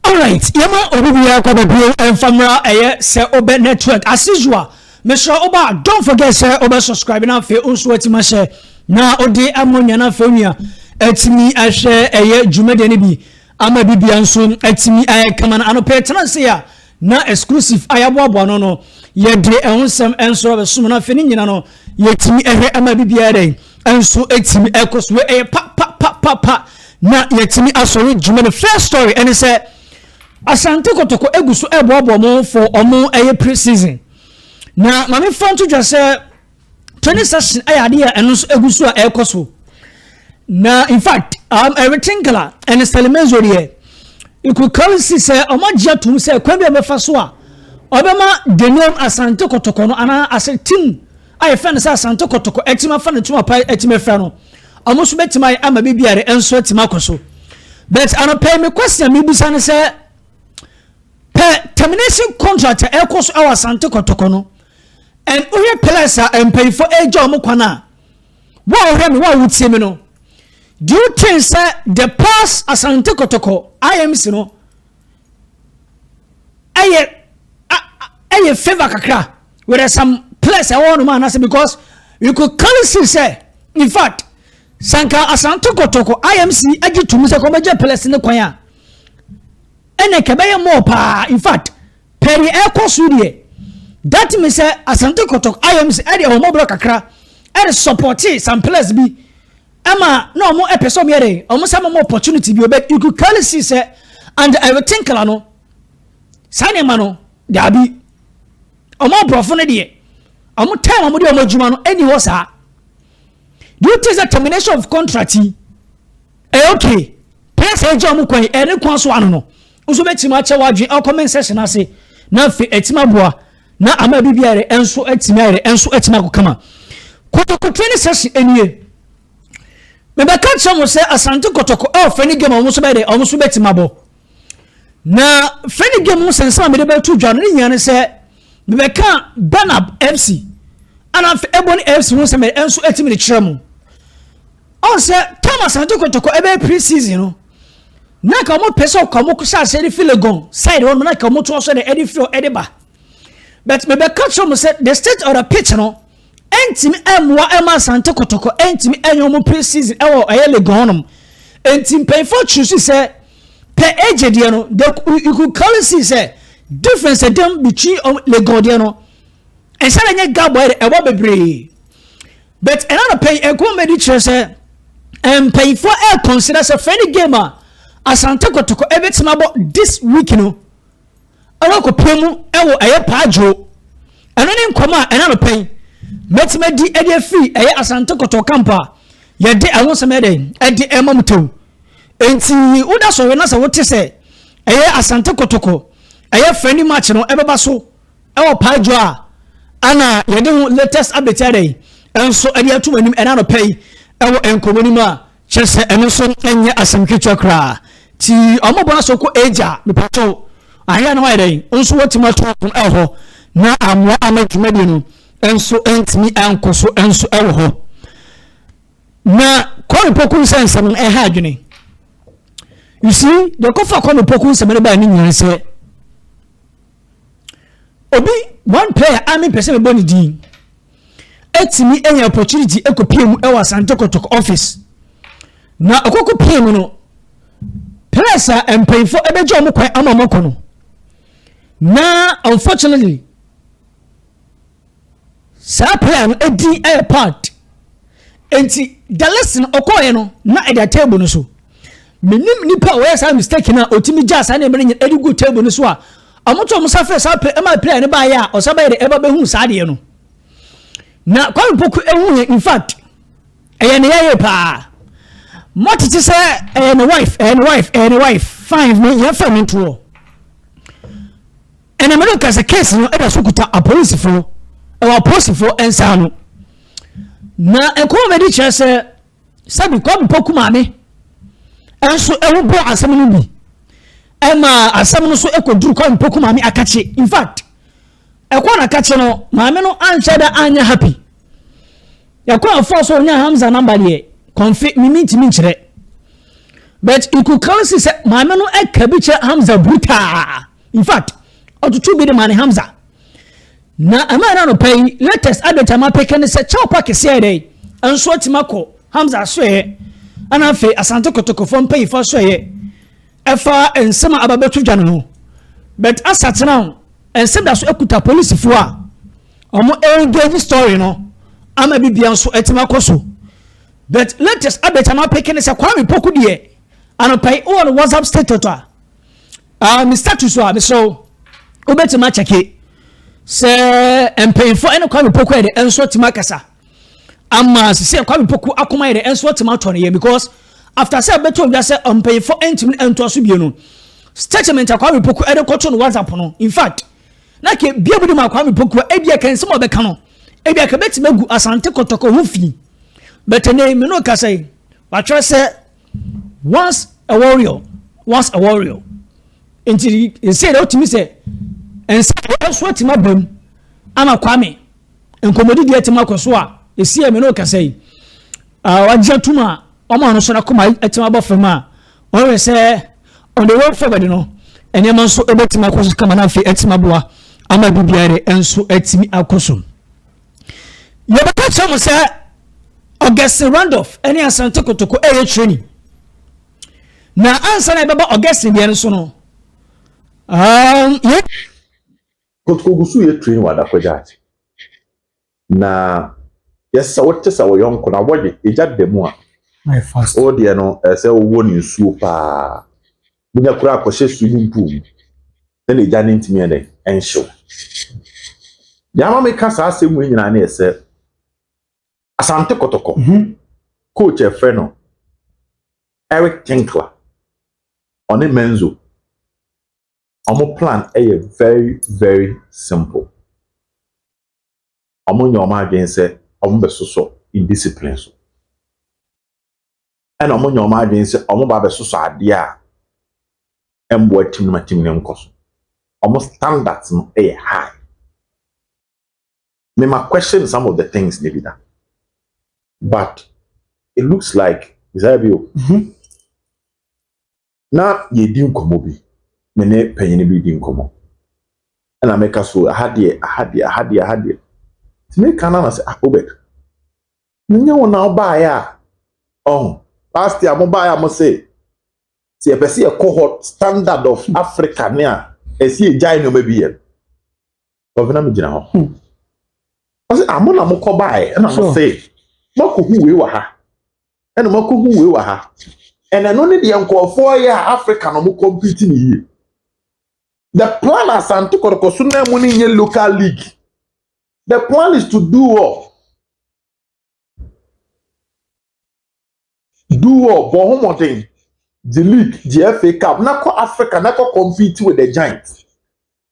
Alright yɛma obi biara kɔ baabi o ɛnfa mmra ɛyɛ sɛ wobɛ network as usual mesrɛ woba a don't forget sɛ wobɛ subscribe na afei nso watumi ahyɛ na wode ama onua na afei onua atumi ahwɛ ɛyɛ dwumadie no bi ama bibia nso atumi ayɛ kama no anɔpɛ tena ase a Na exclusive a yɛaboaboa no no yɛde ɛho nsɛm nso abɛsom no afei ne nyina no yɛtumi ɛhwɛ ɛma bi biara dɛn nso ɛtumi ɛkɔ so ɛyɛ pa pa pa pa pa na yɛtumi asɔre dwuma no first story ɛne sɛ asante kɔtɔkɔ egu so ɛboaboa mo for ɔmo ɛyɛ pre season na maame fa nto dwa sɛ training session ɛyɛ eh, adeɛ a ɛno nso egu so a ɛrekɔ so na in fact um, ɛretinkala ɛne sɛlɛmɛnzo deɛ ikukaw si sɛ ɔmo agye atum sɛ kwan bi a ɔbɛfa so a ɔbɛma denom asante kɔtɔkɔ no anaa asɛ tim a yɛfɛ no sɛ asante kɔtɔkɔ ɛtim afa ne tum apa ɛtim afira no ɔmo nso bɛtumi ayɛ ama biribi a ɛnso ɛtim akɔ so but anɔpɛ mi kwasi a mi bisa no sɛ pɛ termination contract ɛkɔ so ɛwɔ asante kɔtɔkɔ no. and wohwɛ pillars a mpanyinfoɔ ɛregya wɔn kwan a wo a wohwɛ me wo a wotie me no do you think sɛ the past asante kɔtɔkɔ imc no ɛyɛ ɛyɛ favour kakra with uh, some players ɛwɔ hɔ nom anase because you could clearly see sɛ in fact sanka asante kɔtɔkɔ imc agye tum sɛ kɔmɛgye players ne kwan a ɛnna kɛbɛyɛ mɔɔ paa in fact. Perry ɛrekɔ so deɛ, that means sɛ Asante Kotoko IMC ɛde ahommɔborɔ kakra ɛde supporte some players bi ɛma na wɔn ɛpɛ sɛ wɔn yɛ dɛn, wɔn sɛ wɔn opportunity bi but you could clearly see sɛ and ɛretinkla no saa nneɛma no daabi wɔn aborɔfo no deɛ wɔn time wɔn de wɔn adwuma no ɛni hɔ saa do you think the termination of contract yi ɛyɛ okay pɛsɛ ɛgye wɔn kwan ɛne kwan so ano no. Wo nso bɛtumi akyɛ w'adwene wɔ comment section ase na afei atumi aboa na ama biribi ayɛrɛ ɛnso atumi ayɛrɛ ɛnso atumi akɔ kama kɔtɔkɔtɔ ne sɛsi ɛnie mebɛka kyerɛ mo sɛ asante kɔtɔkɔ a ɔfɛ ne game a wɔn nso bɛyɛ dɛ wɔn nso bɛtumi abɔ na fɛ ne game ho sɛnsɛn a mede bɛto dwa no ne nyinaa ne sɛ mebɛka banab fc ana afei ɛbɔ ne fc ho sɛ mɛ ɛnso atumi de kyerɛ mo Ɔn sɛ tam Asante Kotoko ɛbɛyɛ pre season no na nka ɔmo pɛ sɛ ɔka ɔmo hyɛ aseɛ de fi Legon side hɔ nom na nka ɔmo toa so de ɛde fi hɔ ɛde ba but mebɛka kyerɛ ɔmo sɛ the state of the pitch no ɛntumi ɛmmoa ɛma Asante Kotoko ɛntumi ɛnyɛ ɔmo pre season ɛwɔ ɛyɛ Legon hɔ nom nti mpanyinfoɔ choose sɛ pɛ agye deɛ no the you could clearly see sɛ difference ɛdɛm between Legon deɛ no ɛsɛ dɛ nyɛ gabɔ ɛwɔ bebree. but ɛna no pɛn ɛkɔmmɛdi kyerɛ sɛ mpanyinfoɔ ɛrekɔnsida sɛ fɛn ne game a asante kɔtɔkɔ ɛbɛtumi abɔ this week no ɛwɔ akɔpɛ mu ɛwɔ ɛyɛ paadwo ɛno ne nkɔmɔ a ɛna no pɛn mɛtumi adi ɛde afiri ɛyɛ asante kɔtɔkɔ camp a yɛde ɛho sɛm ɛdɛ ɛde ɛma mu tew nti woda sɔrɔ na sɛ wote sɛ ɛyɛ asante kɔtɔkɔ ɛyɛ fɛn ne match no ɛbɛba so. Ɛwɔ paa dwo a ana yɛde ho latest update ada yi nso de ato mo anim ɛna anɔpa yi ɛwɔ nkɔmmɔ no mu a kyerɛ sɛ ɛno nso ɛnyɛ asɛm ketewa koraa ti ɔmo bɔ aso kɔ agya mepatɔ ayɛ no ayɛ dɛn nso wɔtumi ato ɔmo ɛwɔ hɔ na amoa ama dwumadie no nso ɛntumi ɛnkɔ so nso ɛwɔ hɔ na kɔre poku nsɛ nsɛm no ɛha adwene you see deɛ kɔfa kɔre poku nsɛm no baa ne nyinaa sɛ obi one player a mempɛ sɛ mebɔ ne din atumi anya opportunity ɛkɔpie mu ɛwɔ asante kɔtɔk office na ɔkɔkɔ pie mu no players a mpanyinfoɔ ɛbɛgye wɔn kwan ama wɔn akɔ no na unfortunately Saa prayer no edin ɛyɛ part. Enti the lesson ɔkɔɔ yɛ no na ɛda table no so. Menim nipa a ɔyɛ saa mistake na otimi gyaa saa nneɛma no nyina ɛde gu table no so a ɔmo to ɔmo sa frɛ saa prayer ɛma prayer no baayɛ a ɔsa bɛyɛ de ɛba bɛhu saa adeɛ no. Na Kwame Poku ehu yɛ in fact ɛyɛ ne yɛyɛ paa. Mɔtete sɛ ɛyɛ ne wife ɛyɛ ne wife ɛyɛ ne wife fine ne yɛn fɛ ne ntoɔ. Enemene ka sɛ case no da so kuta apolisifo wɔ apolisifo nsa ano. Na nkɔmmɔbɛdi kyerɛ sɛ sɛbi Kwame Poku maame nso ɛho bɔ asɛm no bi ɛma asɛm no so ɛkɔduru Kwame Poku maame akakye in fact ɛkɔ na kakye no maame no anhyɛ da anyɛ happy ɛkɔ afoɔ so ɔnyɛ Hamza namba deɛ kɔnfe mimi ntumi nkyerɛ but ikukansi sɛ maame no ɛka bi kyerɛ Hamza brutaa in fact ɔtoto bi de maa ne hamza na ɛma ɛna nɔpa yi latest update ama peke ne sɛ kyɛw pa kɛseɛ yɛ dɛ nso atumi akɔ hamza asoɛyɛ ɛna afei asante kɔtɔkɔfoɔ mpanyinfoɔ asoɛyɛ ɛfa nsɛm a ababɛto dwa no ho but asatena ho nsɛm da so akuta polisifoɔ a wɔn engage story no ama bibia nso atumi akɔ so but latest update ama peke ne sɛ kwame poku deɛ anɔpa yi wɔ no whatsapp status a uh, me status a mesrɛ wo wobɛtumi akyɛke sɛ mpanyimfoɔ ɛne kwame poku yɛ de ɛnso atumi akasa ama sisi kwame poku akoma yɛ de ɛnso atumi atɔ ne yɛ because after sɛ bɛtɔ odwa sɛ mpanyimfoɔ ɛntumi ɛntoa so bie no statement a kwame poku ɛde kɔto no whatsapp no in fact na ke bia mu de ma kwame poku ebi ɛka nsɛm a ɔbɛka no ebi ɛka bɛtumi agu asante kɔtɔkɔ ho fi bɛtɛ ne mene ɔkasa yi watwerɛ sɛ once a warrior once a warrior nti nsɛn na wotumi sɛ nsɛn na ɛso atumi aba mu ama kwame nkɔmmɔdi deɛ atumi akɔ so a ɛsi ɛmɛ no kasa yi wagye atum a wɔn a no so n'akoma atumi abɔ fam a wɔhwɛ sɛ on the way forward no nneɛma nso ɛbɛtumi akɔ so kama no afei atumi aboa ama biribiara nso atumi akɔ so Yɛbɛka kyerɛ mo sɛ Augustine Randolph ne Asante Kotoko ɛyɛ training. Na ansa na ɛbɛba Augustine deɛ no so no, um, yɛ. Kotoko gu so yɛ training wɔ Adakɔgya ate. Na yɛsɛ wote sɛ wɔyɔnko na wɔye ɛgya da mu a. O deɛ no ɛsɛ wowɔ ne nsuo paa. Wonya kura akɔhyɛ swimming pool mu. Sɛ n'agya no ntumi yɛ dɛn nhyew. Deɛ ama meka saa asɛm wei nyinaa ne yɛ sɛ Asante Kɔtɔkɔ mhm. coach ɛfrɛ no Eric Tinkler ɔne Menzo wɔn plan ɛyɛ very very simple wɔn nyɛ wɔn adwene sɛ wɔn bɛsosɔ indiscipline so ɛna wɔn nya wɔn adwene sɛ wɔn ba abɛsosɔ adeɛ a ɛmboa tim no ma tim no nkɔ so wɔn standards no ɛyɛ high me ma question some of the things ne bi da but it looks like desire bi o. Mm -hmm. Na yɛredi nkɔmmɔ bi, me ne panyin bi redi nkɔmmɔ. Ɛna meka so, aha deɛ, aha deɛ, aha deɛ, aha deɛ. Nti meka no na sɛ, ah, Obed, menyɛ wo na wobaeɛ a, ɔho, last year mo baeɛ a mo se, sɛ yɛpɛ sɛ yɛkɔ hɔ standard of Africa ne a, ɛsɛ yɛgyae nneɛma bi yɛ. Gɔvena mi gyina hɔ. Hmm. Ɔsɛ amo na mo kɔ baae ɛna mo se mako hu wei wɔ ha ɛna mako hu wei wɔ ha ɛna ɛno ne deɛ nkɔɔfoɔ yɛ a Africa na ɔmo kɔmpiti ne yie. The plan Asante Kɔtɔkɔ so na mu ne nye local league. The plan is to do all. Du hɔ, bɔ ho mmɔden, gye league, gye FA Cup na kɔ Africa na kɔ compete with the giant.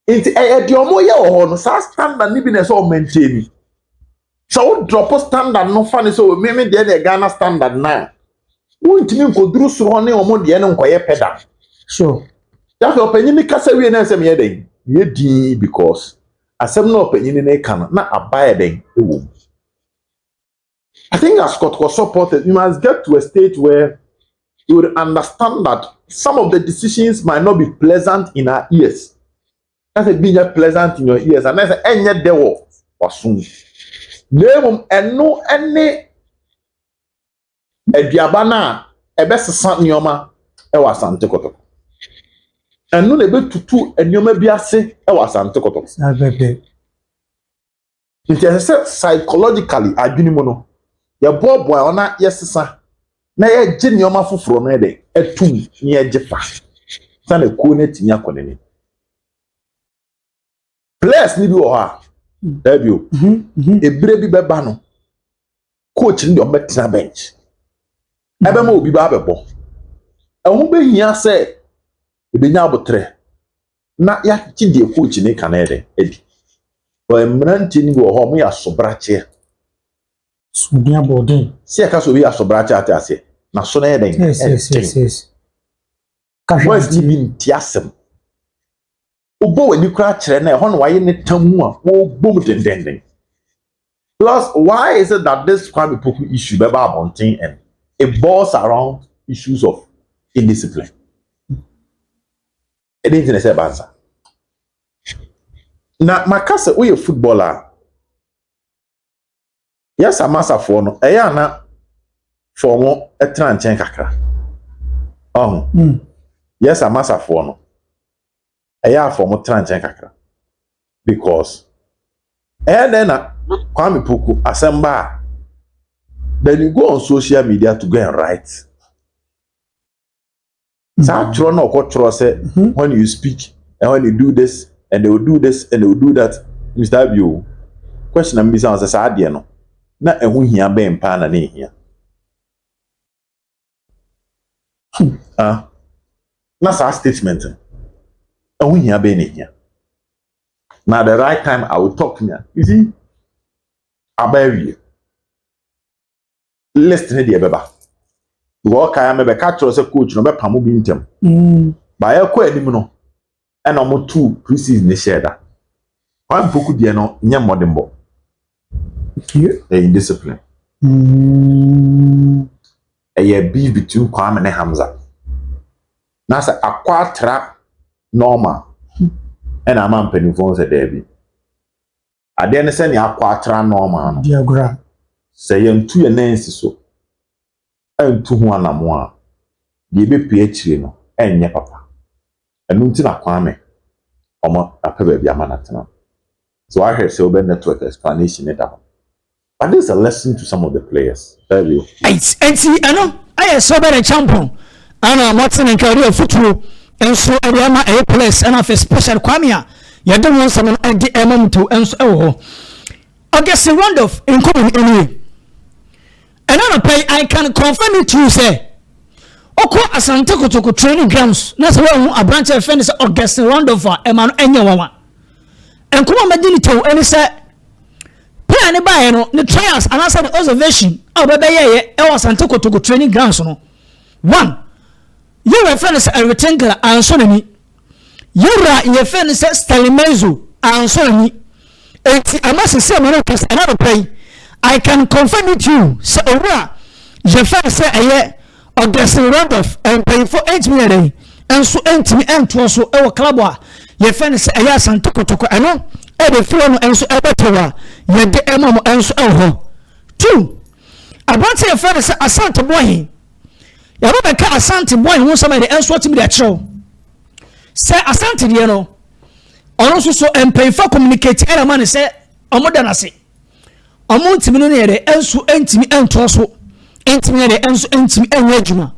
Nti ɛyɛ deɛ wɔyɛ wɔ hɔ no saa standard no bi na ɛsɛ ɔmantie ni. Sɛ wo drop standard no fa ne sɛ o meme deɛ deɛ Ghana standard no a wontumi nkɔduru soro hɔ ne wɔn deɛ no nkɔyɛ pɛ da. So. Yafei ɔpanyin ne kasa wie na ɛsɛ meyɛ dɛn? Meyɛ dii because asɛm na ɔpanyin ne ka no na aba yɛ dɛn ɛwɔ mu. I think as kɔtɔkɔ supporters, we must get to a stage where we would understand that some of the decisions might not be pleasant in our ears. That's a being pleasant in your ears, and that's a any dewo wasun. Name and no any aduabana a best sant nioma ɛwɔ asante kɔtɔkɔ. Ɛno na ɛbɛtutu nneɛma bi ase ɛwɔ asante kɔtɔkɔ. Nti ɛsɛ sɛ psychologically, adwene mu no, yɛboaboa yɛn ho na yɛsesa na yɛgye nneɛma foforo no yɛ dɛ atum na yɛgye fa sa na kuo no atumi akɔ n'anim. Players no bi wɔ hɔ a, daabio, ebire bi bɛba no, coach no deɛ ɔbɛtena bench ɛbɛma obi ba abɛbɔ ɛho bɛhia sɛ ɛbɛnya abotrɛ na yɛakye deɛ coach ne ka no ɛdɛ adi mmeranteɛ no bi wɔ hɔ ɔmo yɛ asobrakyeɛ sumuni abɔden sɛ yɛka sɛ obi yɛ asobrakyeɛ ate aseɛ na so no yɛ dɛn ɛnten west bi nti asɛm Wobɔ w'ani koraa kyerɛ na ɛhɔ na wayɛ ne tam mu a wɔbom dendenden. Plus, why is it that this Kwame Poku issue bɛba abɔnten and it boils around issues of indiscipline? Ɛdɛn nti na ɛsɛ ɛba nsa? Na maka sɛ woyɛ footballer a, Yɛ saa ma safoɔ no, ɛyɛ a na fa wɔn tena nkyɛn kakra. Ɔho. Mm. Yɛ saa ma safoɔ no, ɛyɛ a fa wɔn tena nkyɛn kakra. Because, ɛyɛ dɛn na Kwame Poku asɛm ba a, then you go on social media to go and write. Saa mm. twerɛ na ɔkɔtwerɛ sɛ hmm. when you speak and when you do this and they will do this and they will do that mr abio question am bisa sɛ saa adeɛ no na ɛho hia bɛn paa na ne hia hmm. ah. na saa statement no ɛho hia bɛn na hia na the right time i will talk na you see abawie list ne deɛ ɛbɛba because ɔkae a mɛbɛka kyerɛ sɛ coach no bɛpa mo bi ntɛm baayɛ kɔ anim no ɛna wɔn tu pre-season ne hyɛ da wɔn mpoku deɛ no nyɛ mmɔdenbɔ ɛyɛ indiscipline ɛyɛ beef between Kwame ne Hamza na sɛ akɔ atra normal ɛna ama mpanimfoɔ sɛ daabi. Adeɛ ne sɛ nea akɔ atra nɔɔma no, Diagra. sɛ yɛantu yɛn nan ansi so antu ho anammɔn a, deɛ ɛbɛpue akyire no renyɛ papa. Ɛno nti na Kwame wɔapɛ baabi ama no atena no. Sɛ woahwɛ sɛ wobɛ network explanation no da hɔ. But this is a lesson to some of the players. Very okay. Eight. Enti ɛno ɛyɛ sɛ ɔbɛyɛ nkyɛnpɔn ɛna Martin nka ɔde afutuo nso ɛde ama ɛyɛ players ɛna afei special Kwame a yɛde wɔn nsɛm no ɛde ɛma mu to ɛnso ɛwɔ hɔ. August Randolph nkɔmɔ no ɛnie. Ɛna anapa yi I can confirm it to you sɛ ɔkɔ Asante Kotoko training grounds na sɛ wɔahu aberanteɛ ɛfɛ ne sɛ August Randolph a ɛma no ɛnyɛ wawa. Nkɔmɔ a mɛdi ne tɛw ɛne sɛ Pɛ a ne baeɛ no, ne trials anaasɛ ne observation a ɔbɛbɛyɛeɛ ɛwɔ Asante Kotoko training grounds no, one, yɛwura yɛfrɛ no sɛ Eric Tinkler ansɔ n'ani. Yɛwura yɛfrɛ no sɛ Stanley Menzo ansɔ n'ani. Enti ama sisi ama no kasa ɛna nɔpɛ yi, I can confirm it to you sɛ owura yɛfrɛ no sɛ ɛyɛ Ɔdɛsere Randolph, mpanyimfo ntumi yɛ dɛn nso ntumi ntoa so wɔ club a yɛfrɛ no sɛ ɛyɛ Asante Kotoko ɛno ɛde fira no nso ɛbɛtɛw a yɛde ɛma mo nso ɛwɔ hɔ two aberante yɛfrɛ no sɛ Asante Boahe yɛbɛ bɛka Asante Boahe ho nsɛm ɛde nso atumi de akyerɛw sɛ Asante deɛ no ɔno nso so mpanyimfo communicate ɛna ma ne sɛ wɔn da n'ase. ɔmo ntumi no ne yɛde nso ntumi ntoa so ntumi yɛde nso ntumi nyɛ adwuma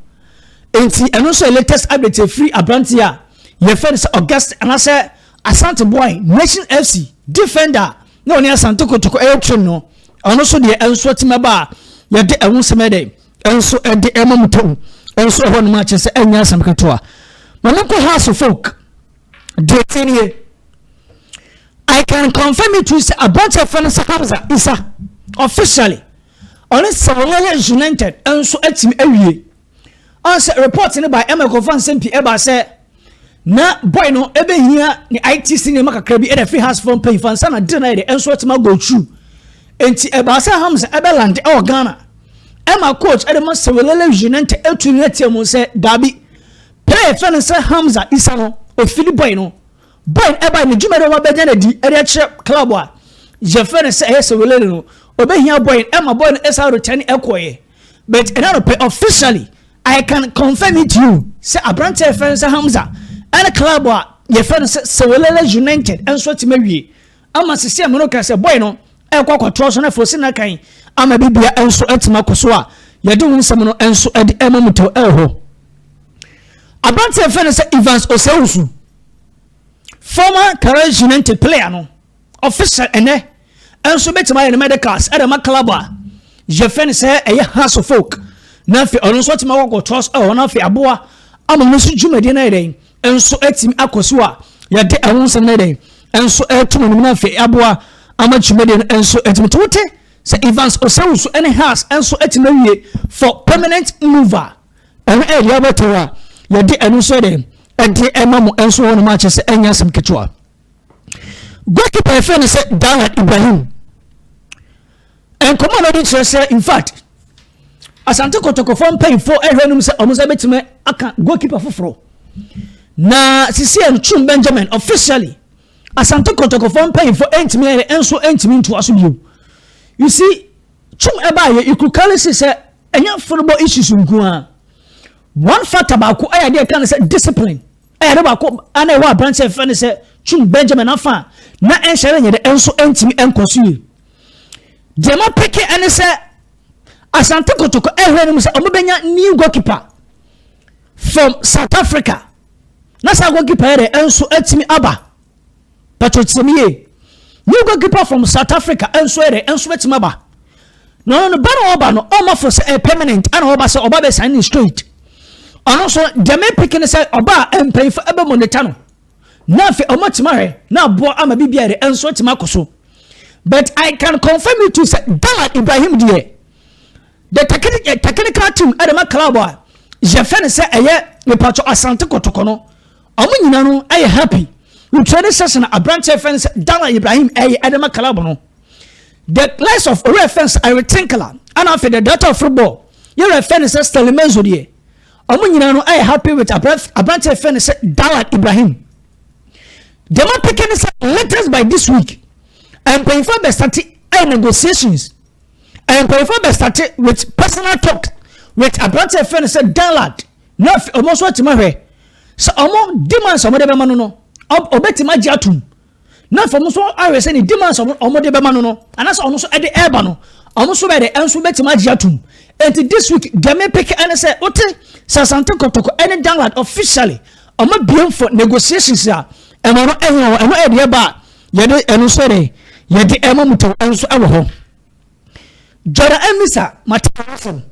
nti ɛno nso yɛ latest update efiri aberanteɛ a yɛfɛ no sɛ august anaasɛ asante boy nation fc defender na ɔne asante kotoko ɛyɛ twem no ɔno nso deɛ nso atumi aba a yɛde ɛho nsɛm ɛdɛ nso ɛde ɛma mu tɛm nso ɛhɔ nom akyɛ sɛ ɛnyɛ asɛm ketewa ma ne nkɔ house folk deɛ ɛti nie i can confirm it to sɛ aberanteɛ fɛ no sɛ hamza isa officially ɔne sɛ wɔyɛ yɛ united nso atumi awie ɔn sɛ report no ba ɛma ɛkɔfa nsɛm pii ɛba sɛ na boy no ɛbɛhia ne itc nneɛma kakra bi ɛna firi house fam pɛn fa nsa na de na yɛde nso atumi agɔ tru nti ɛbaa sɛ hamza ɛbɛlande ɛwɔ ghana ɛma coach ɛde ma sɛ wɔlɛlɛ united ɛtu ne atia mu sɛ daabi Pɛɛ yɛfrɛ no sɛ Hamza Isa no ofili bɔe no bɔe no ɛbae ne dwumadi a wabɛnya no adi ɛde akyerɛ club a yɛfrɛ no sɛ ɛyɛ Sewelele no obehia bɔe no ɛma bɔe no ɛsan retɛne ɛkɔeɛ but ɛnɛ anɔpɛ officially I can confirm it to you sɛ aberante a yɛfrɛ no sɛ Hamza ɛne club a yɛfrɛ no sɛ Sewelele United nso atumi awie Ama sisi ɛmono ka sɛ boy no ɛkɔ akɔtrɔ so na afei ɔsi na kan. Ama bi bia ɛnso ɛtim akɔ so a yɛde ho nsɛm no ɛnso ɛde ɛma mu tɛw ɛwɔ hɔ. Abrante ɛfɛ no sɛ Evans Osewusu, former Carrage United player no, official ɛnɛ ɛnso bɛtumi ayɛ ne medicals ɛde ma club a yɛfɛ no sɛ ɛyɛ Hearts of Oak na afei ɔno nso ɛtim akɔ akɔtrɔ so ɛwɔ hɔ na afei aboa ama no nso dwumadie no ayɛ dɛn nso atumi akɔ so a yɛde ɛho nsɛm no yɛ dɛn nso ɛreto no anim na afei aboa ama dwumadie no nso atumi to wote sɛ evans osawusu ne has nso atumi awie for permanent mover ɛno ɛyɛ deɛ abɛtɔ hɔ a yɛde ɛno nso yɛ dɛn ɛde ɛma mo nso hɔ nom akyɛ sɛ ɛnyɛ asɛm ketewa goalkeeper yɛfrɛ no sɛ dalan ibrahim Nkɔmmɔ a wɔadi kyerɛ sɛ in fact Asante Kotokofoɔ mpanyinfoɔ ɛhwɛ anim sɛ wɔn nsa bɛtumi aka goalkeeper foforɔ na sisi a Twum Benjamin officially Asante Kotokofoɔ mpanyinfoɔ ɛntumi ɛyɛ ɛnso ɛntumi ntoa so bio you see Twum ɛbaayɛ you could clearly see sɛ ɛnyɛ football issues nko ara one factor baako ɛyɛ adeɛ ɛka ne sɛ discipline ɛyɛ adeɛ baako ɛna ɛwɔ aberanteɛ fɛ ne sɛ Twum Benjamin afa na ɛnhyɛ ne nyɛ dɛ ɛnso ɛntumi ɛnkɔ so yie. deɛ ma peke ɛne sɛ asante kotoko ɛhwɛ no mu sɛ ɔmo bɛnya new goalkeeper from south africa na saa goalkeeper yɛ dɛ ɛnso ɛtumi aba pɛtɛ tiɛm yie new goalkeeper from south africa ɛnso yɛ dɛ ɛnso ɛtumi aba na ɔno no ba na ɔba no ɔmo afɔ sɛ ɛyɛ permanent ɛna ɔba sɛ ɔba bɛ sign in straight ɔno nso deɛ ma peke ne sɛ ɔba a mpanyinfo ɛbɛ monitor no na afei ɔmo atumi ahwɛ na aboa ama bibi yɛ dɛ ɛnso ɛtumi akɔ so. but i can confirm you to sɛ dala ibrahim deɛ the eh, technical team ɛde ma club a yɛfɛ no sɛ ɛyɛ mepatwɔ asante kɔtɔkɔ no ɔmo nyina no ɛyɛ happy wotwa ne sɛsɛ na aberanteɛ fɛ no sɛ dala ibrahim ɛyɛ ɛde ma club no the likes of owurɛ fɛ no sɛ eric tinkler ɛna afei the director of football yɛrɛ fɛ no sɛ stanley menzo deɛ ɔmo nyina no ɛyɛ happy with aberanteɛ fɛ no sɛ dala ibrahim deɛ ma peke ne sɛ latest by this week mpanyinfoɔ abɛsate ɛyɛ negotiations mpanyinfoɔ abɛsate with personal talk with aberante ɛfɛ no sɛ danlad na wɔn nso atumi ahwɛ sɛ wɔn demands a wɔde bɛma no no ɔbɛtumi agye atum na fam nso ahwɛ sɛ ne demands a wɔde bɛma no no anaasɛ wɔn nso ɛde ɛreba no wɔn nso bɛyɛ dɛ nso bɛtumi agye atum nti this week deɛ mepeke ɛne sɛ wote sasante kɔtɔkɔ ɛne danlad officially wɔn abiem for negotiations a ɛma no ɛnyɛ hɔ ɛno ɛde ɛba a yɛde ɛno nso ɛde yɛde ɛma mu tɛw ɛnso ɛwɔ hɔ jɔra ɛmisa matɛw asɛm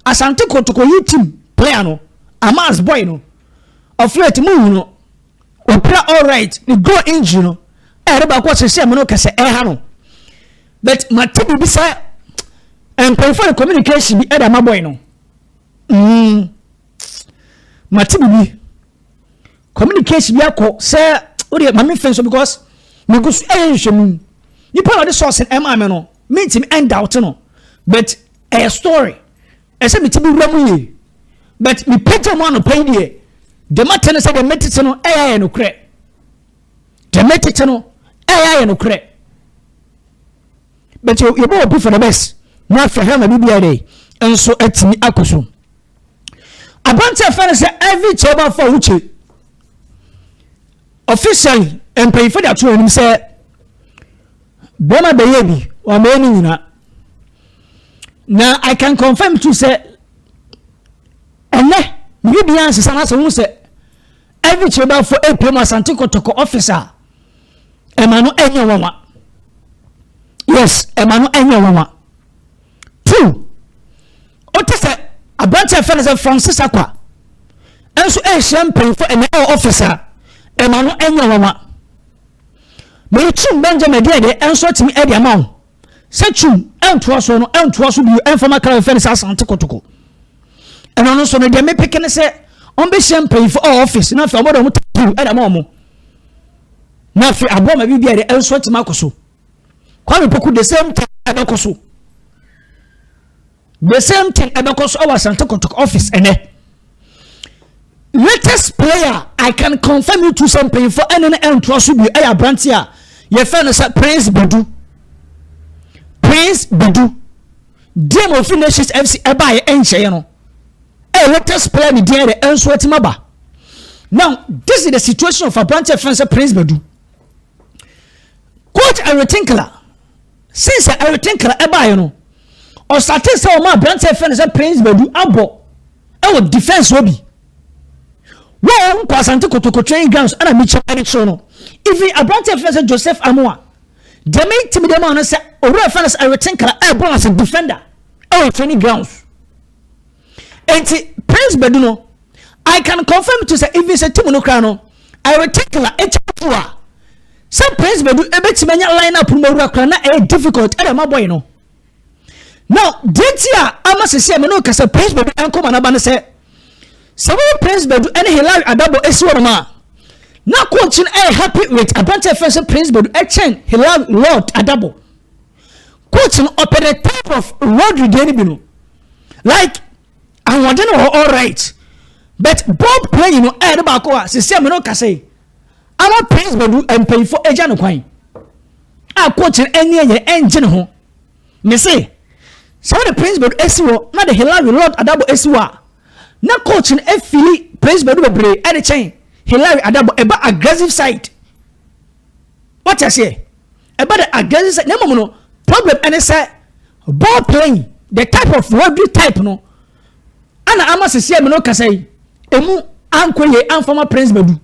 asante kotoko yi team player no amas boy no ɔflɛt mu hu no ɔpira alright ne goal injury no ɛyɛde baako ɔsese ɛmu no kɛsɛ ɛha no but mate biribi sɛ nkɔmfo ne communication bi ɛde ama boy no mm. mate biribi communication bi akɔ sɛ wodeɛ ma memfɛ so because megu so ɛyɛ nhwɛmu nipa na ɔde sɔɔse ɛmaa me no mentimi ɛndawte no but ɛyɛ story ɛsɛ mete bi wura mu yie but mepɛgya mu anɔpa yi deɛ deɛ mate no sɛ deɛ metete no ɛyɛ ayɛ nokorɛ deɛ metete no ɛyɛ ayɛ nokorɛ but yɛbɛwɔ bi for the best na afɛ hɛ ma biribiara dɛ nso atumi akɔ so aberante a fɛn sɛ Ivy Chauba Fawuche officially mpanyinfo de ato anim sɛ bɛrima bɛyɛ bi wɔn bɛyɛ ne nyinaa na I can confirm to sɛ ɛnɛ bibi bi ansesa na sɛ wɔn sɛ Ivy Chauba fo apue mu Asante Kɔtɔkɔ office a ɛma no ɛnyɛ wɔn wa yes ɛma no ɛnyɛ wɔn wa. two wote sɛ aberante a fɛ no sɛ francis akwa nso ɛrehyia mpanyinfo ɛnɛ ɛwɔ ɔfis a ɛma no ɛnyɛ nwanwa mɛrekyim benjamin deɛ deɛ ɛnso atumi ɛde ama wo sɛ kyim ɛntoa so no ɛntoa so bio ɛnfam akra fɛ no sɛ asan tokotoko ɛno no nso no deɛ mepeke ne sɛ ɔmbɛhyia mpanyinfo ɛwɔ ɔfis na afei ɔmɔde ɔmo tapiw ɛde ama ɔmo na afei aboa ma bi bi a deɛ ɛnso atumi akɔ so Kwame Poku the same thing ɛbɛkɔ so the same thing ɛbɛkɔ so ɛwɔ Asante Kɔtɔkɔ office ɛnɛ latest player I can confirm you to sɛ mpanyinfoɔ ɛne no ɛntoa so bi ɛyɛ aberante a yɛfɛ no sɛ Prince Bedu Prince Bedu deɛ ma ofin Nations FC ɛbaayɛ ɛnhyɛyɛ no ɛyɛ latest player ne deɛ yɛ ɛnso ɛtima ba now this is the situation of aberante ɛfɛ no sɛ Prince Bedu. Coach Eric Tinkler since Eric Tinkler ɛbaeɛ no ɔsate sɛ wɔn a aberanteɛ fɛ no sɛ Prince Badu abɔ ɛwɔ defence hɔ bi wɔn nkɔ asante kotoko training grounds ɛna mi kyɛn ne so no even aberanteɛ fɛ sɛ Joseph Amoa deɛ mi ti mi deɛ mu ano sɛ owurɛ fɛ no sɛ Eric Tinkler ɛbɔ as a defender ɛwɔ training grounds. nti prince bɛdu no i can confirm to sɛ even sɛ tim no koraa no ɛyɛ tekla ɛkyɛ to a sɛ prince bɛdu ɛbɛtumi anya line up no mawura koraa na ɛyɛ difficult ɛna ɛma bɔyɛ no now deɛ ti a ama sisi a me no kasa prince bɛdu ɛnkɔma n'aba no sɛ sɛ wɔn prince bɛdu ɛne hilary adabo ɛsi wɔn a na coach no ɛyɛ happy with aberanteɛ fɛn sɛ prince bɛdu ɛkyɛn hilary lord adabo coach no ɔpɛ the type of rodri deɛ no bi no like ahoɔden wɔ hɔ all right but ball playing no ɛyɛ de baako a sisi ɛmu no kasa yi ama players bɛdu mpanyinfo agya no kwan a coach no ɛni ɛyɛ ɛngye ne ho ne se sɛ wɔde prince bɛdu esi wɔ na de hilary lord adabo esi wɔ a na coach no efili prince bɛdu bebree ɛde kyɛn hilary adabo ɛba aggressive side wɔte aseɛ. ɛba dɛ adwen ne sɛ na mmom no problem ɛne sɛ ball playing the type of rugby type no ana ama sisi a mene kasa yi emu ankɔ yie anfama prince badu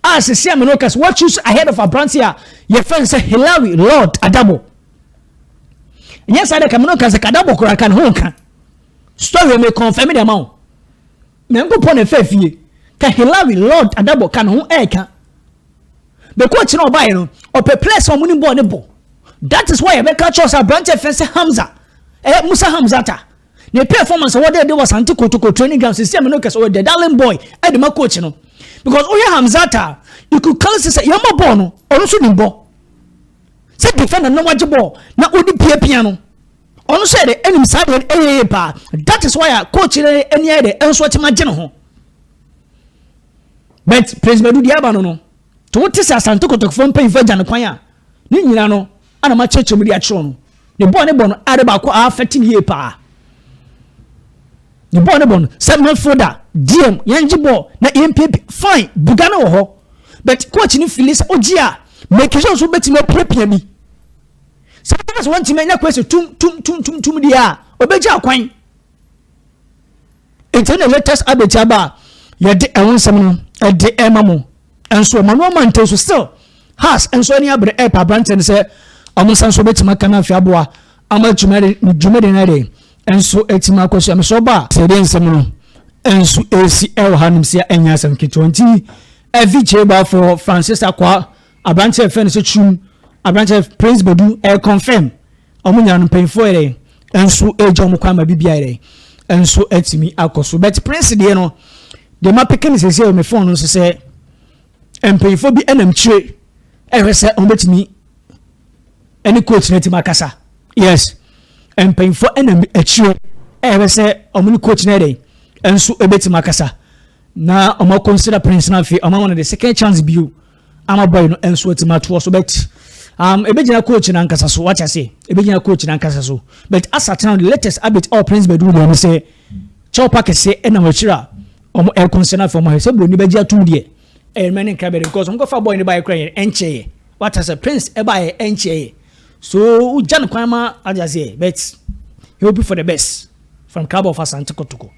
a sisi a mene kasa what choose ahead of aberante a yɛfɛn sɛ hilary lord adabo nyɛ saa dɛ ka mene kasa kadabo kora ka ne ho nka story me confirm de ama wo Nyankopɔn na ɛfaa fie. Ka Hillary Lord Adabor ka ne ho ɛɛka. Bɛkɔ akyire na ɔbaeɛ no, ɔpɛ pɛɛ sɛ ɔmo ne bɔɔ ne bɔ. That is why ɛbɛka kyerɛ wo sɛ aberanteɛ ɛfɛ sɛ Hamza, ɛyɛ Musa Hamzata. Ne performance a wɔde de wɔ Asante Kotoko training ground sisi ɛmɛ no kɛse ɔyɛ the darling boy ɛde ma coach no. Because wohwɛ Hamzata a, you could clearly see sɛ yɛn bɔ bɔɔl no, ɔno nso nim bɔ. Sɛ defender na wagye bɔɔl na ɔde piapia no. Ɔno nso yɛ dɛ nim saa adeɛ no ɛyɛ yie paa that is why a coach no ani ayɛ dɛ ɛnso ɔtumi agye ne ho but Prince Badu deɛ aba no no to wote sɛ Asante Kotokfoɔ mpanyinfoɔ agya no kwan a ne nyina no ana ma kyerɛkyerɛ mu de akyerɛ no ne bɔɔ ne bɔ no ade baako a afɛte ne yie paa ne bɔɔ ne bɔ no sɛ midfielder DM yɛn gye bɔɔ na yɛn piepi fine buga no wɔ hɔ but coach no fili sɛ ogye a make sure nso bɛtumi apiapia bi Sɛ ɔbɛka sɛ wɔntumi anya Kwesi tum tum tum tum tum deɛ a, ɔbɛgya akwan. Nti na latest update aba a yɛde ɛho nsɛm no ɛde ɛma mo. Nso Emmanuel Mante nso still has nso ani abere ɛpa aberanteɛ no sɛ wɔn nsa nso bɛtumi aka no afei aboa ama dwumadi no ɛde nso ɛtumi akɔ so ɛmesɛ ɔba a. Sɛ ɛde nsɛm no nso ɛsi ɛwɔ ha nom sɛ ɛnyɛ asɛm ketewa nti ɛvi kyerɛ baafoɔ Francis Akwa Aberante a yɛfrɛ no sɛ Kyum, aberante a Prince Badu ɛrekɔnfɛm, wɔn nyinaa no mpanyinfoɔ yɛ dɛ nso ɛregya wɔn kwan ma biribi ayɛ dɛ nso atumi akɔ so. But Prince deɛ no, deɛ ma peke no sɛsɛ wɔ me phone no nso sɛ mpanyinfoɔ bi ɛnam kyire ɛhwɛ sɛ wɔn bɛtumi ɛne coach no atumi akasa. Yes, mpanyinfoɔ ɛnam akyire ɛhwɛ sɛ wɔn ne coach no ɛdɛ nso ɛbɛtumi akasa na wɔn akɔnsira Prince no afei wɔn ama no the second chance bio. ama boy no nso atumi atoɔ so but um, ɛbɛgyina coach no ankasa so wate ase ɛbɛgyina coach no ankasa so but asatena the latest update a prince bɛduru baabi sɛ kyɛw pa kɛseɛ ɛnam akyiri a wɔn ɛrekɔnsɛ no afei wɔn ahwɛ sɛ buroni bɛgye atom deɛ ɛyɛ mmerɛ ne nkra bɛde because wɔn kɔfa boy no baeɛ kora yɛ ɛnkyɛeɛ wate ase prince ɛbaeɛ ɛnkyɛeɛ so wogya no kwan ma ade aseɛ but he hope for the best from club of asante kotoko